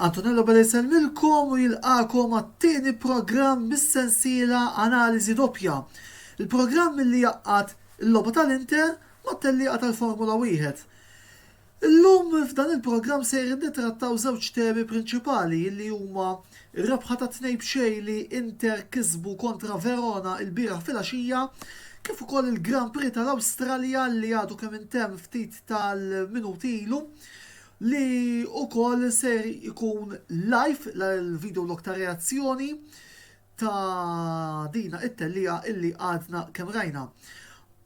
Antonello Bella jsellmilkom u jilqakom għat-tieni programm mis-sensiela Analiżi Doppja. Il-programm li jaqqad il-logħba tal-Inter mat-tellieqa tal-Formula Wieħed. Illum f'dan il-programm sejrin nittrattaw żewġ temi prinċipali illi huma r-rebħa ta' tnejn b'xejn li Inter kisbu kontra Verona ilbieraħ filgħaxija kif ukoll il-Grand Prix tal-Awstralja li għadu kemm intemm ftit tal-minuti ilu li ukoll ser ikun live l-video log ta' reazzjoni ta' dina it-tellieqa illi għadna kemm rajna.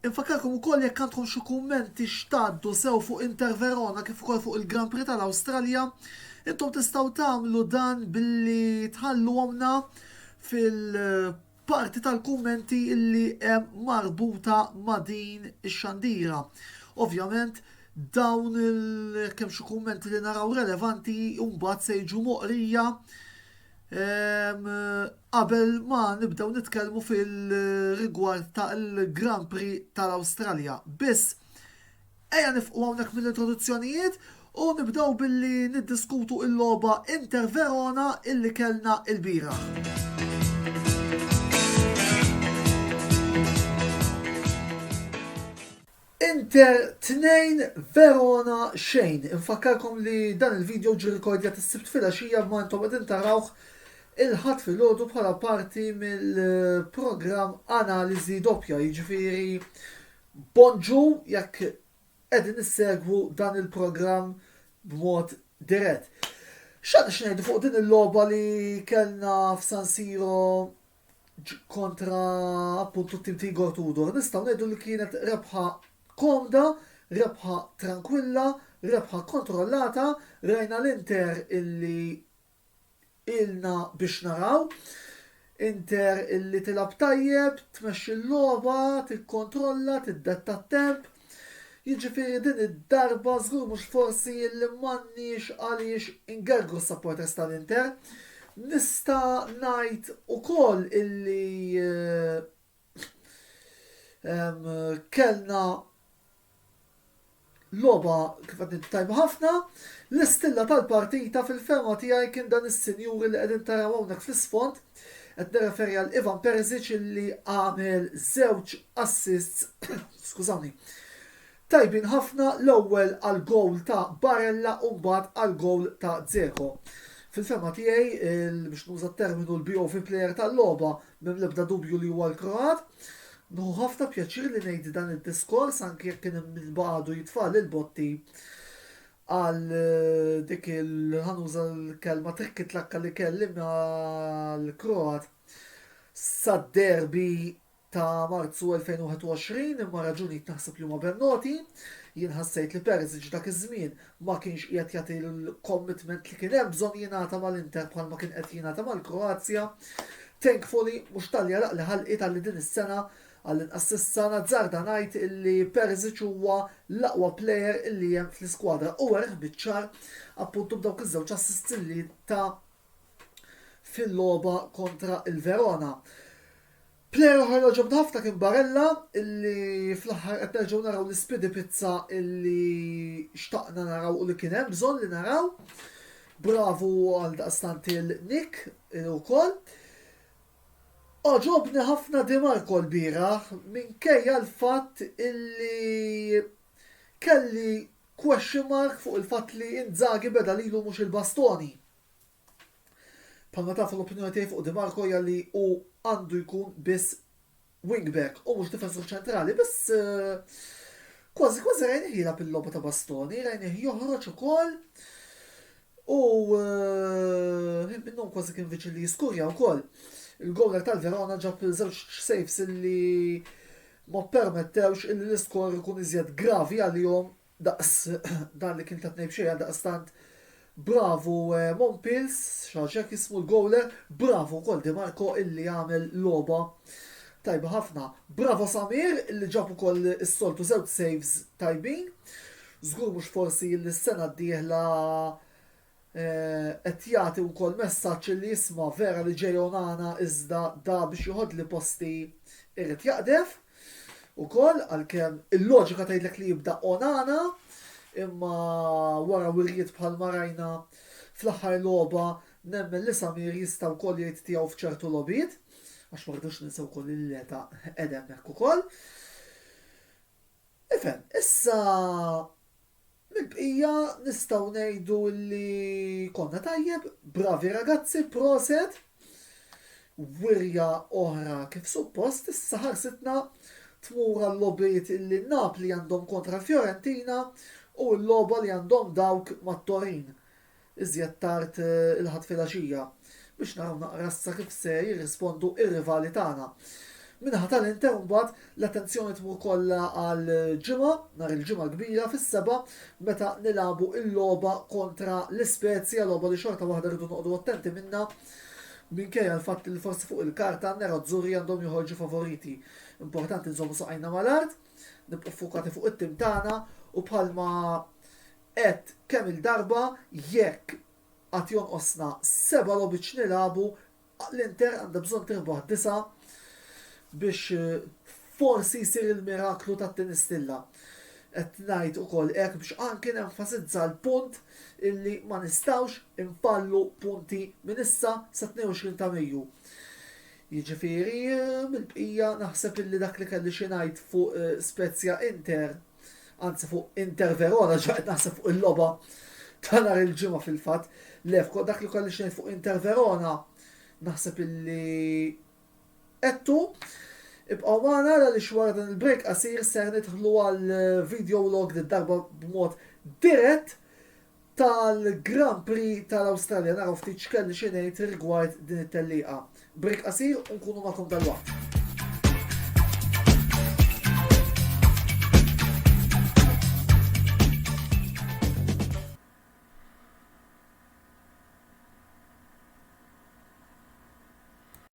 Infakkarkom ukoll jekk għandkom xi kummenti x'tgħaddu sew fuq Inter Verona kif ukoll fuq il-Grand Prix tal-Awstralja, intom tistgħu tagħmlu dan billi tħalluhomna fil-parti tal-kummenti illi hemm marbuta ma' din ix-xandira. Ovvjament, dawn il kemm xi kummenti li naraw relevanti mbagħad se jiġu moqrija Qabel ma nibdew nitkellmu fil-rigward tal-Grand Prix tal-Awstralja, biss ejja nifqu hawnhekk mill-introduzzjonijiet u nibdew billi niddiskutu il-logħba Inter Verona illi kellna il-bieraħ. Inter tnejn Verona xejn. Infakkarkom li dan il-video ġie rikordjat is-Sibt filgħaxija imma intom qegħdin tarawh il-Ħadd filgħodu bħala parti mill-programm Analiżi Doppja, jiġifieri bonġu jekk qegħdin issegwu dan il-programm b'mod dirett. X'għandna x'ngħidu fuq din il-logħba li kellna f'San Siro kontra appuntu tim Tigor Tudor, nistgħu ngħidu li kienet rebħa komda, rebħa trankwilla, rebħa kontrollata, rajna l-Inter illi ilna biex naraw. Inter illi tilab tajjeb, tmexxi l-logħba, tikkontrolla, tiddetta t-temp. Jiġifieri din id-darba żgur mhux forsi li m'għandniex għaliex ingergru s-supporters tal-Inter. Nista' ngħid ukoll illi kellna logħba kif qed ngħid tajba ħafna. L-istilla tal-partita fil-fehma tiegħi kien dan is-sinjuri li qegħdin taraw hawnhekk fl-isfond Qed nirreferi għal Ivan Perisic li għamel żewġ assists skużawni, tajbin ħafna l-ewwel għall-gowl ta' Barella u mbagħad għall-gowl ta' Dzeko. Fil-fehma tiegħi, biex nuża terminu l-BOV player tal-logħba m'hemm l-ebda dubju li huwa l-Kroat. Nħu ħafna pjaċir li ngħid dan id-diskors anke jekk kien hemm min baqgħadu jitfa' l-botti Għal dik il ħa nuża l-kelma trikkitlakka li kelli ma' l-Kroat sad-derby ta' Marzu 2021 imma raġunijiet naħseb li huma ben noti. Jien ħassejt li Perisic dak iż-żmien ma kienx qiegħed jagħti l-commitment li kien hemm bżonn jingħata ma' l-Inter bħal ma kien qed jingħata mal-Kroazja. Thankfully, mhux talli għaraqli ħalqi talli din is-sena Għall-inqas s'issa nazzarda ngħid illi Perisic huwa l-aqwa plejer illi hemm fl-iskwadra u wereh biċ-ċar appuntu b'dawk iż-żewġ assists illi ta fil-logħba kontra l-Verona. Plejer oħra li għoġobna ħafna kien Barella illi fl-aħħar qed nerġgħu naraw l-ispidi pizza illi xtaqna naraw u li kien hemm bżonn li naraw. Bravu għaldaqstant il Nick ukoll. Għoġobni ħafna Di Marco lbieraħ minkejja l-fatt illi kelli question mark fuq il-fatt li Inzaghi beda lilu mhux il-bastoni. Bħalma tafu l-opinjoni tiegħi fuq Di Marco hija li hu għandu jkun biss wingback u mhux difensur ċentrali biss kważi kważi rajnih jilgħab il-logħba ta' Bastoni, rajnih joħroġ ukoll u ħin minnhom kważi kien viċin li jiskurja wkoll. Il-gowler tal-Verona ġab żewġ saves li ma permettewx illi l-iskor ikun iżjed gravi għalihom Daqs dan li kien ta' tnejn b'xejn għaldaqstant bravu Monpils, xaġa hekk jismu l-gowler, bravu wkoll Di Marco illi għamel logħba tajba ħafna. Bravo Samir illi ġab ukoll is-soltu żewġ saves tajbin. Żgur mhux forsi illi s-sena d-dieħla qed jagħti wkoll messaġġ illi isma' vera li ġej onana iżda da biex joħodli posti irid jaqdef ukoll għalkemm il-loġika tgħidlek li jibda onana imma wara wirjiet bħalma rajna fl-aħħar logħba nemmen li Samir jista' wkoll jgħid tiegħu f'ċertu logħbiet għax ma rridux ninsew ukoll li l-età qegħda hemmhekk ukoll. Ifhem, issa Mill-bqija nistgħu ngħidu li konna tajjeb, bravi ragazzi, proset! Wirja oħra kif suppost issa ħarsitna tmur għal-logħbiet li Napli għandhom kontra Fiorentina u l-logħba li għandhom dawk mat-Torin. iżjed tard il-Ħadd filgħaxija biex naraw naqra issa kif se jirrispondu r-rivali tagħna. Min-naħa tal-Inter mbagħad l-attenzjoni tmur kollha għal Ġimgħa, nhar il-Ġimgħa kbira fis-sebgħa meta nilagħbu l-logħba kontra l-Ispezia, logħba li xorta waħda rridu noqogħdu attenti minnha minkejja l-fatt li forsi fuq il-karta n-Nerazzurri għandhom joħorġu favoriti. Importanti nżommu saqajna mal-art, nibqgħu ffukati fuq it-tim tagħna u bħalma Għedt kemm-il darba jekk għad jonqosna seba' logħbiet x'nilagħbu, l-Inter għandha bżonn tirbaħ disa' biex forsi jsir il-miraklu tat-tieni stilla. Qed ngħid ukoll hekk biex anki nenfasizza l-punt illi ma nistgħux infallu punti minn issa sat-22 ta' Mejju. Jiġifieri mill-bqija naħseb illi dak li kelli xi ngħid fuq Spezia Inter anzi fuq Inter Verona, ġaqet naħseb fuq il-loba ta' nar il-ġimgħa fil-fatt, lefko dak li kolli xejn fuq Inter Verona, naħseb illi ettu, ibqaw maħna għal li xwara dan il-break qasir ser nidħlu għal video log li darba b'mod dirett tal-Grand Prix tal-Awstralja naraw ftit x'kelli xi ngħid rigward din it-tellieqa. Break qasir u nkunu magħkom dalwaqt.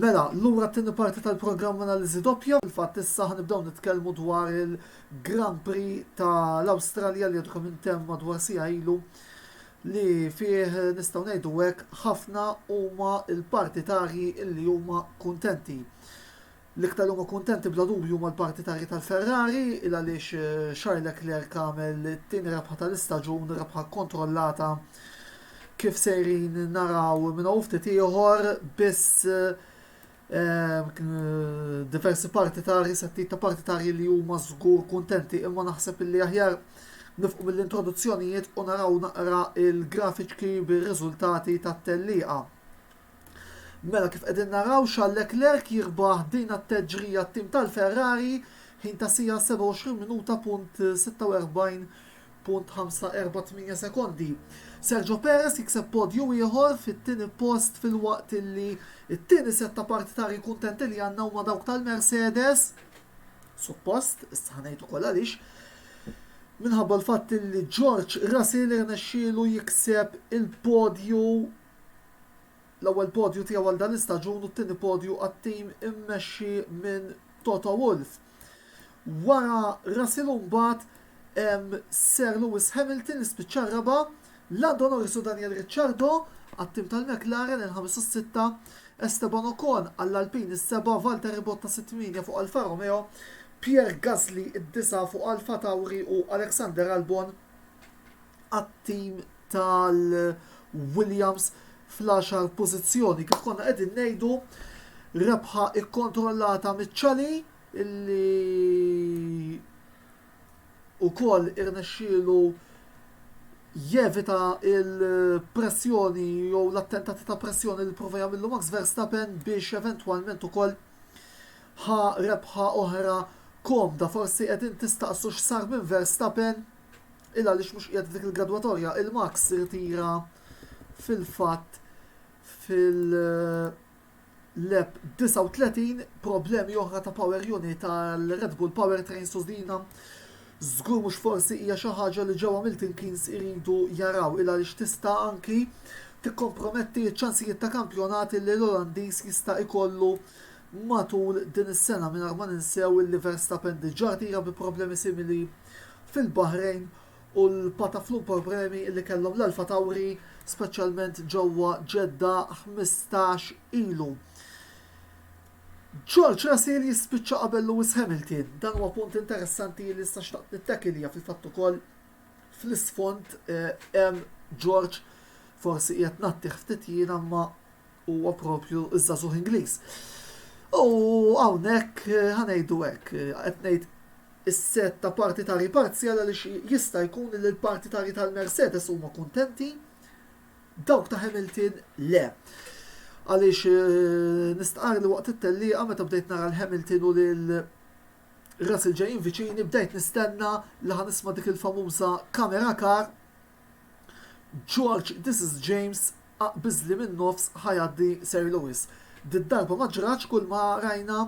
Mela, lura t-tieni parti tal-programm Analiżi Doppja. Fil-fatt issa ħa nibdew nitkellmu dwar il-Grand Prix tal-Awstralja li għadkom intemm madwar sija ilu li fih nistgħu ngħidu hekk ħafna huma l-partitarji li huma kuntenti. L-iktar li huma kuntenti bla dubju huma l-partitari tal-Ferrari il għaliex Charles Leclerc għamel it-tieni rebħa tal-istaġun, rebħa kkontrollata kif sejrin naraw minn hawn u ftit ieħor biss diversi partitari, settijiet ta' partitari li huma żgur kuntenti imma naħseb illi aħjar nifqu mill-introduzzjonijiet u naraw naqra l-grafiċki bir-riżultati tat-tellieqa. Mela kif qegħdin naraw Charles Leclerc jirbaħ din t-teġrija t-tim tal-Ferrari, ħin ta' siegħa 27 minuta punt 46.548 sekondi. Sergio Perez jikseb podju ieħor fit-tieni post filwaqt li t-tieni sett ta' partitari kuntenti li għandna huma dawk tal-Mercedes. Suppost, issa ħanejt ukoll għaliex, minħabba l-fatt li George Russell irnexxielu jikseb il-podju L-ewwel podju tiegħu għal dan l-istaġun u t-tieni podju għat-tim immexxi minn Toto Wolff. Wara Russell u mbagħad Sir Lewis Hamilton li spiċċa r-raba', Lando Norris u Daniel Ricciardo għat-tim tal-McLaren il-ħames u s-sitta, Esteban Ocon għall-Alpine is-seba', Valtteri Bottas it-tmienja fuq Alfa Romeo, Pierre Gasly id-disgħa fuq Alfa Tauri u Alexander Albon għat-tim tal-Williams fl-għaxar pożizzjoni. Kif konna qegħdin ngħidu rebħa ikkontrollata miċ-ċali illi ukoll irnexxielu jevita il-pressjoni jew l-attentati ta' pressjoni li prova jagħmlu Max Verstappen biex eventwalment ukoll ħa rebħa oħra komda. Forsi qegħdin tistaqsu x'sar minn Verstappen Illa għaliex mhux qiegħed f'dik il-gradwatorja, il-Max irtira fil-fatt fil-lap 39, problemi oħra ta' power unit għall-Red Bull Powertrain Sosdina. Żgur mhux forsi hija xi ħaġa li ġewwa Milton Keynes iridu jaraw illa għaliex tista' anki tikkomprometti ċ-ċansijiet ta' kampjonat li l-Olandiż jista' jkollu matul din is-sena mingħajr ma ninsew li Verstappen diġà rtira bi problemi simili fil-Baħrejn u l-Pataflu problemi li kellhom l-Alfa Tauri speċjalment ġewwa Ġedda ħmistax ilu. George Russell jispiċċa qabel Lewis Hamilton. Dan huwa punt interessanti li sta xtaqt nittakilja fil-fatt ukoll fl-isfond eh, hemm George forsi qiegħed nattih ftit jiena ma huwa proprju ż-żagħżugħ Ingliż. U hawnhekk ħa ngħidu hekk, qed ngħid is-set ta' partitarji parzjali għaliex jista' jkun li l-partitarji tal-Mercedes huma kuntenti, dawk ta' Hamilton le. Għaliex eh, nistqar li waqt it-tellieqa meta bdejt nara l-Hamilton u lil Russell ġejjin viċini bdejt nistenna li ħanisma' dik il-famuża kamera kar George this is James aqbiżli minn nofs ħa jgħaddi Sir Lewis. Did-darba ma ġratx kull ma rajna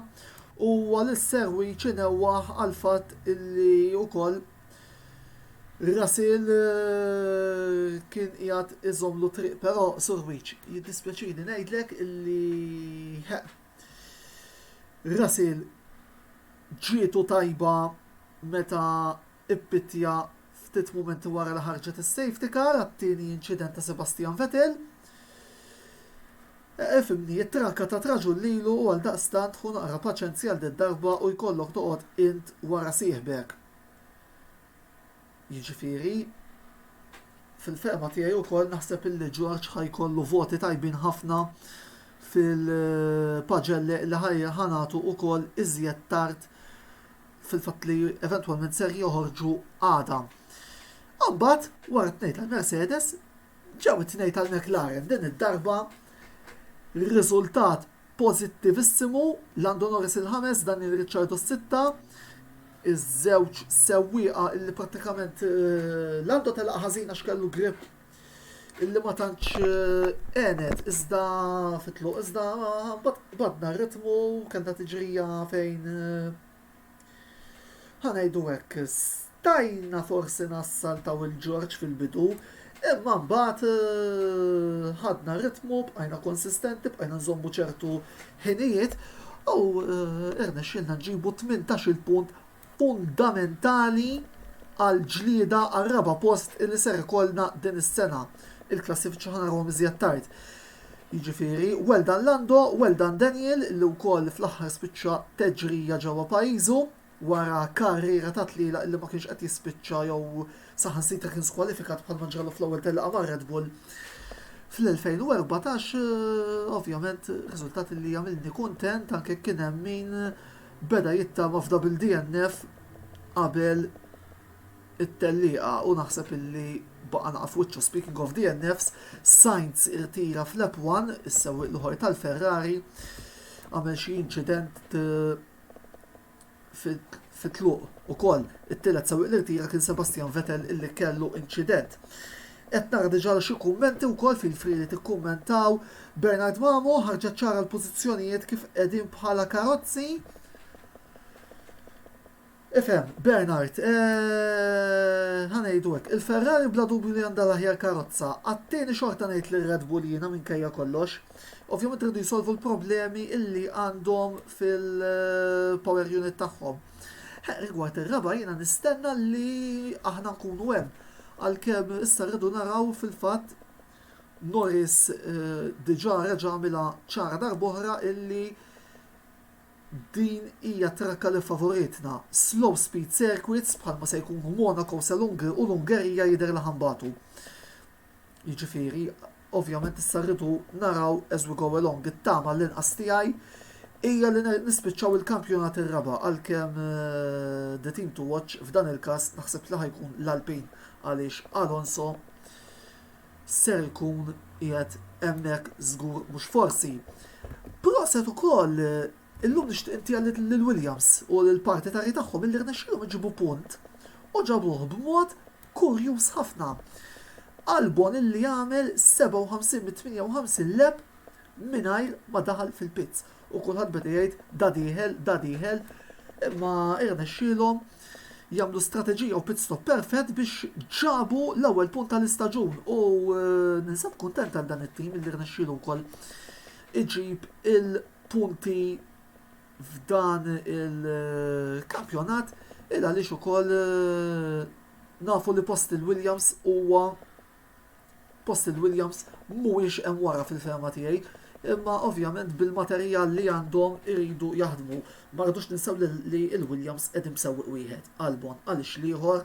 u huwa lil Sir Wych inewwaħ għall-fatt illi wkoll Rasil kien qiegħed iżommlu triq però Sir Wych jiddispjaċini ngħidlek illi Rasil ġietu tajba meta ippittja ftit mumenti wara li ħarġet is-safety car għat-tieni inċident ta' Sebastian Vettel. Ifhimni, it-trakka tat raġun lilu u għaldaqstant ħu naqra paċenzi għal did-darba u jkollok toqgħod int wara sieħbek. Jiġifieri, fil-fehma tiegħi wkoll naħseb illi George ħa jkollu voti tajbin ħafna fil-paġelle li ħa nagħtu wkoll iżjed tard fil-fatt li eventwalment ser joħorġu għada. Imbagħad wara t-tnejn tal-Mercedes ġew it-tnejn tal-McLaren din id-darba riżultat pożittivissimu Lando Norris il-ħames dan il-Ricciardo s-sitta iż-żewġ sewwieqa li prattikament eh, Lando telaq ħażina x'kellu grip illi ma tantx għenet iżda fit-tluq iżda mbagħad badna r-ritmu kellna tiġrija fejn ħa ngħidu hekk stajna forsi nassaltaw il-Ġorġ fil-bidu imma mbagħad ħadna r-ritmu bqajna konsistenti bqajna nżommu ċertu ħinijiet u irnexxielna nġibu 18-il punt fundamentali għall-ġlieda għar-raba' post illi ser ikollna din is-sena. Il-klassifiċi ħa narahom iżjed tard. Jiġifieri, well done Lando, well done Daniel li wkoll fl-aħħar spiċċa teġrija ġewwa pajjiżu wara karriera ta' tlielaq illi ma kienx qed jispiċċa jew saħansitra kien skwalifikat bħalma ġralu fl-ewwel telqa ma' Red Bull fl-2014 ovvjament riżultat li għamilni kuntent anke kien hemm min beda jittama f'double DNF qabel it-tellieqa u naħseb illi baqa' naqa' f'wiċċu. Speaking of DNFs, Sainz irtira f'Lap One, is-sewwieq l-ieħor tal-Ferrari għamel xi inċident fit-tluq ukoll. It-tielet sewwieq li rtira kien Sebastian Vettel illi kellu inċident. Qed nara diġà li xi kummenti wkoll fil-friegħi tikkummentaw, Bernard Mamo ħarġet ċara l-pożizzjonijiet kif qegħdin bħala karozzi. Ifhem, Bernard, ħa ngħidu hekk, il-Ferrari bla dubju li għandha l-aħjar karozza, għat-tieni xorta ngħid li r-Red Bull jiena minkejja kollox. Ovvjament iridu jsolvu l-problemi illi għandhom fil-power unit tagħhom. Rigward ir-raba' jiena nistenna li aħna nkunu hemm Għalkemm issa rridu naraw fil-fatt Norris diġà reġa' għamilha ċara darb'oħra illi din hija t-trakka li ffavoritna. Slow speed circuits bħalma se jkunu Monaco sa l-Ungerija jidher li ħa nbatu. Jiġifieri Ovvjament issa rridu naraw as we go along. It-tama għall-inqas tiegħi hija li nispiċċaw il-kampjonat ir-raba' għalkemm the team to watch f'dan il-każ naħseb li ħa jkun l-Alpine għaliex Alonso ser ikun qiegħed hemmhekk żgur mhux forsi. Proset ukoll Illum nixtieq intiha lil Williams u lill-partitarji tagħhom illi rnexxielhom iġibu punt u ġabuh b'mod kurjuż ħafna. Albon illi għamel 57 mit-58 leb' mingħajr ma daħal fil-pits u kulħadd beda jgħid da dieħel, da dieħel imma irnexxielhom jagħmlu strateġija u pit-stop perfett biex ġabu l-ewwel punt tal-istaġun u ninsab kuntent għal dan it-tim illi rnexxielu wkoll iġib il punti f'dan il-kampjonat il għaliex ukoll eh, nafu li post il-Williams huwa post il-Williams mhuwiex hemm wara fil-fema tiegħi imma ovvjament bil-materjal li għandhom iridu jaħdmu. Ma rridux ninsaw li il-Williams qegħdin b'sewwieq wieħed, Albon għaliex l-ieħor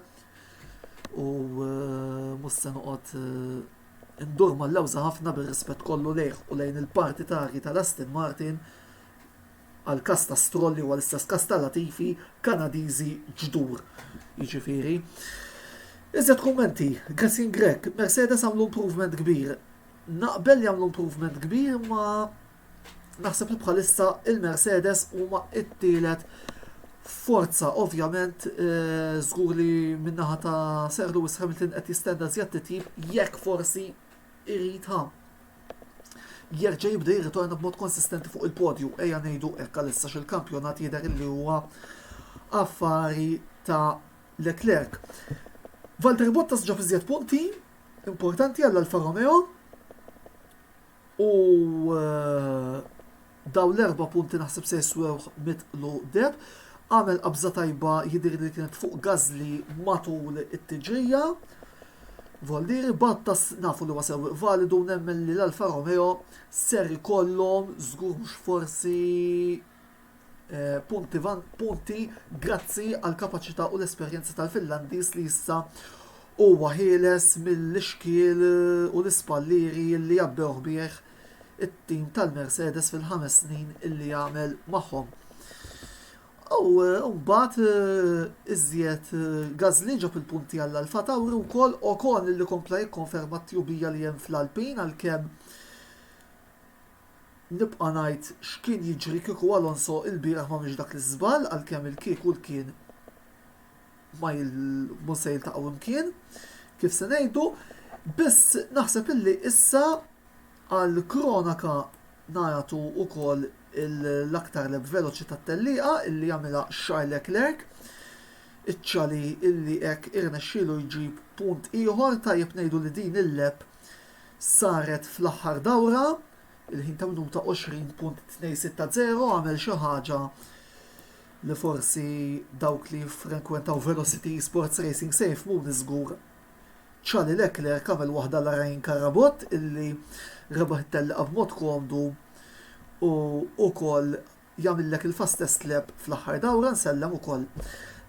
u eh, mhux se noqgħod eh, Indur mal-lewża ħafna bir-rispett kollu lejh u lejn il-parti tarji tal-Aston Martin għall-każ ta' Stroll li huwa l-istess każ ta' Latifi, Kanadiżi ġdur jiġifieri. Iżjed kummenti, Gessin Grech, Mercedes għamlu improvement kbir. Naqbel li għamlu improvement kbir imma Naħseb li bħalissa il-Mercedes huma t-tielet forza. Ovvjament, żgur li min-naħa ta' Sir Lewis Hamilton qed jistenna żjed titjib jekk forsi irid ha jerġa' jibda jirritorna b'mod konsistenti fuq il-podju, ejja ngħidu hekk għalissa x'il-kampjonat jidher li huwa affari ta' Leclerc. Valtteri Bottas ġab iżjed punti importanti għall-Alfa Romeo. U dawn l-erba' punti naħseb se jiswewh mitt lu deheb. Għamel qabża tajba jidhirli li kienet fuq Gażli matul it-tiġrija. Volliri Battas nafu li huwa sewwieq validu u nemmen li l-Alfa Romeo ser ikollhom żgur mhux forsi Punti, Grazzi għall-kapaċità u l-esperjenza tal-Finlandiż li issa huwa ħieles mill-ixkiel u l-ispallieri li għabbewh bih it-tim tal-Mercedes fil-ħames snin li għamel magħhom. U mbagħad iżjed Gasly ġab il-punti għall Alfa Tauri wkoll Ocon li kompla jikkonferma t-tjubija li hemm fl-Alpin għalkemm Nibqa' ngħid x'kien jiġri kieku Alonso ilbieraħ m'għamilx dak l-iżball għalkemm il-kieku l-kien ma mhux se jiltaqgħu imkien kif se ngħidu, biss naħseb illi issa għall-kronaka nagħtu wkoll l-aktar lep veloċi tat-tellieqa illi għamilha Charles Leclerc, iċ-Chali illi hekk irnexxielu jġib punt ieħor, tajjeb ngħidu li din il-lep Saret fl-aħħar dawra, il-ħin ta' minuta 20.260 għamel xi ħaġa li forsi dawk li jiffrenkwentaw Velocity Esports Racing se jifhmuni żgur. Charlie Leclerc għamel waħda la Ryan Carabott illi rebaħ it-tellieqa b'mod komdu u wkoll jagħmillek il-fast test lap fl-aħħar dawra nsellem ukoll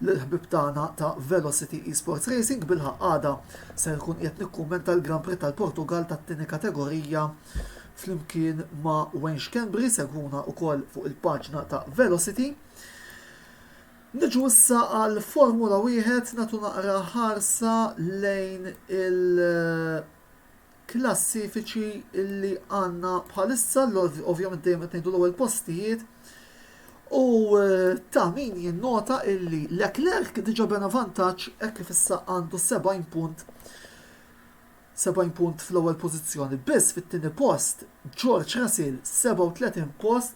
lill-ħbieb tagħna ta' Velocity Esports Racing bilħaqq għada ser nkun qiegħed nikkummenta l-Grand Prix tal-Portugall tat-tieni kategorija flimkien ma' Wayne Schembri segwuna ukoll fuq il-paġna ta' Velocity Niġu issa għal Formula Wieħed nagħtu naqra ħarsa lejn il klassifiċi li għandna bħalissa, ovvjament dejjem qed ngħidu l-ewwel postijiet, u eh, ta' min jinnota illi Leclerc diġa bena vantaġġ hekk kif issa għandu 70 punt 70 punt fl-ewwel pożizzjoni. Biss fit-tieni post George Russell 37 post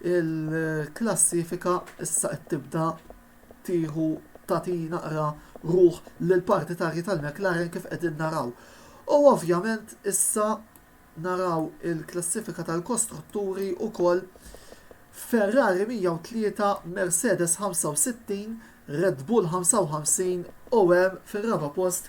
Il-klassifika issa qed tibda tieħu tagħti naqra ruħ lill-partitarji tal-McLaren kif qegħdin naraw. U ovvjament issa naraw il-klassifika tal-kostrutturi wkoll Ferrari 103, Mercedes 65, Red Bull 55 u hemm fir-raba' post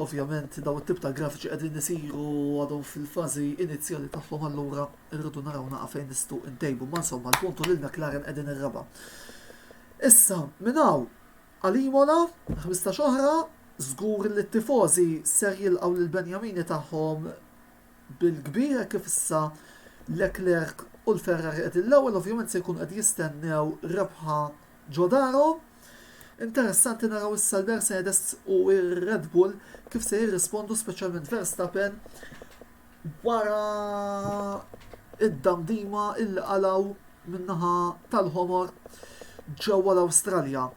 Ovvjament dawn it-tip ta' grafiċi qegħdin isiru u għadhom fil-fażi inizjali tagħhom allura rridu naraw naqra fejn nistgħu ntejbu imma insomma l-punt hu lil McLaren qegħdin ir-raba'. Issa minn hawn għal Imola, ħmistax oħra, żgur li t-tifożi ser jilqgħu lill-benjamini tagħhom bil-kbir kif issa Leclerc u l-Ferrari qegħdin l-ewwel ovvjament se jkunu qed jistennew rebħa ġo darhom. Interessanti naraw issa l-Mercedes u r-Red Bull kif se jirrispondu speċjalment Verstappen wara id-damdima illi qalaw min-naħa tal-ħomor ġewwa l-Awstralja.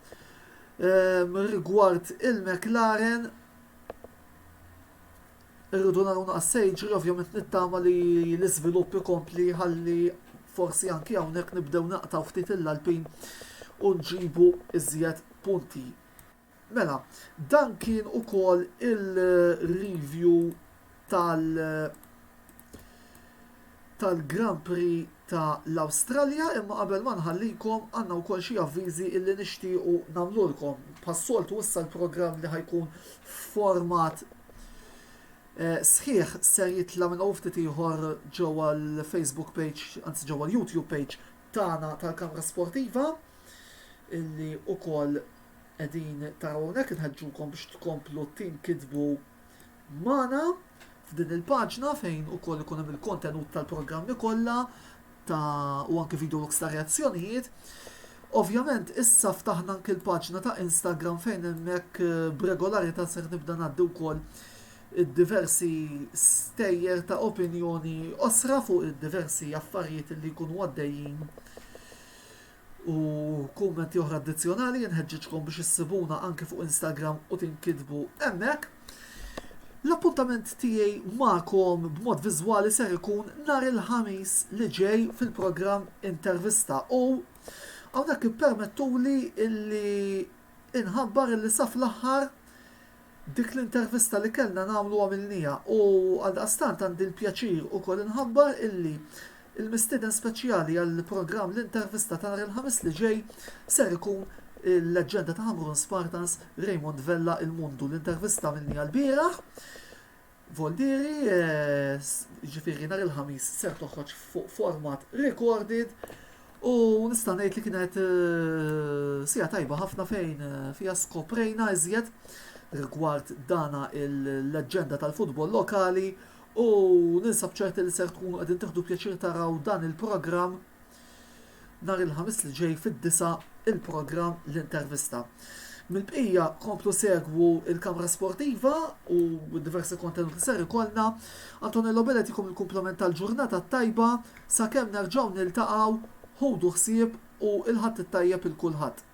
Ehm, rigward il-McLaren Irridu naraw naqas se jiġri, ovvjament nittama li l-iżvilupp ikompli ħalli forsi anki hawnhekk nibdew naqtgħu ftit il-lalbin u nġibu iżjed punti. Mela, dan kien ukoll il-review tal- tal-Grand Prix ta' l-Awstralja imma qabel ma nħallikom għandna wkoll xi avviżi illi nixtiequ nagħmlulkom. Bħas-soltu issa l-programm li ħajkun f'format eh, sħiħ ser jitla' minn hawn ftit ieħor ġewwa l-Facebook page, anzi ġewwa l-YouTube page tagħna tal-Kamra Sportiva illi wkoll qegħdin taraw hawnhekk inħeġġukom biex tkomplu tinkitbu magħna f'din il-paġna fejn ukoll ikun hemm il-kontenut tal-programmi kollha ta' u anke video logs ta' reazzjonijiet. Ovvjament issa ftaħna anke l-paġna ta' Instagram fejn hemmhekk eh, b'regolarità ser nibda ngħaddi wkoll id-diversi stejjer ta' opinjoni osra fuq id-diversi affarijiet li jkunu għaddejjin U kummenti oħra addizzjonali jinħeġġiġkom biex issibuna anke fuq Instagram u tinkitbu hemmhekk. L-appuntament tiegħi magħkom b'mod viżwali ser ikun nhar il-ħamis li ġej fil-programm Intervista u hawnhekk ippermettuli illi inħabbar illi saf l-aħħar Dik l-intervista li kellna nagħmlu għamilnieha u għaldaqstant għandi l-pjaċir ukoll inħabbar illi l-mistieden speċjali għall-programm L-Intervista ta' nhar il-Ħamis li ġej ser ikun il-leġġenda ta' Ħamrun Spartans, Raymond Vella, Il-Mundu. L-intervista għamilnieha lbieraħ. Voldieri, jiġifieri nhar il-Ħamis ser toħroġ fuq format recorded u nista' ngħid li kienet eh, sija tajba ħafna fejn eh, fiha skoprejna iżjed rigward dana il-leġġenda tal-futbol lokali u ninsab ċerti li ser tkunu qegħdin tiħdu pjaċir taraw dan il-programm Nhar il-Ħamis li ġej fid-disgħa il-programm L-Intervista. Mill-bqija komplu segwu il-Kamra Sportiva u diversi kontenut li ser ikollna. Antonello Bellet ikum il-kumplament tal-ġurnata tajba sakemm nerġgħu niltaqgħu ħudu ħsieb u il-Ħadd it-tajjeb il kulħadd.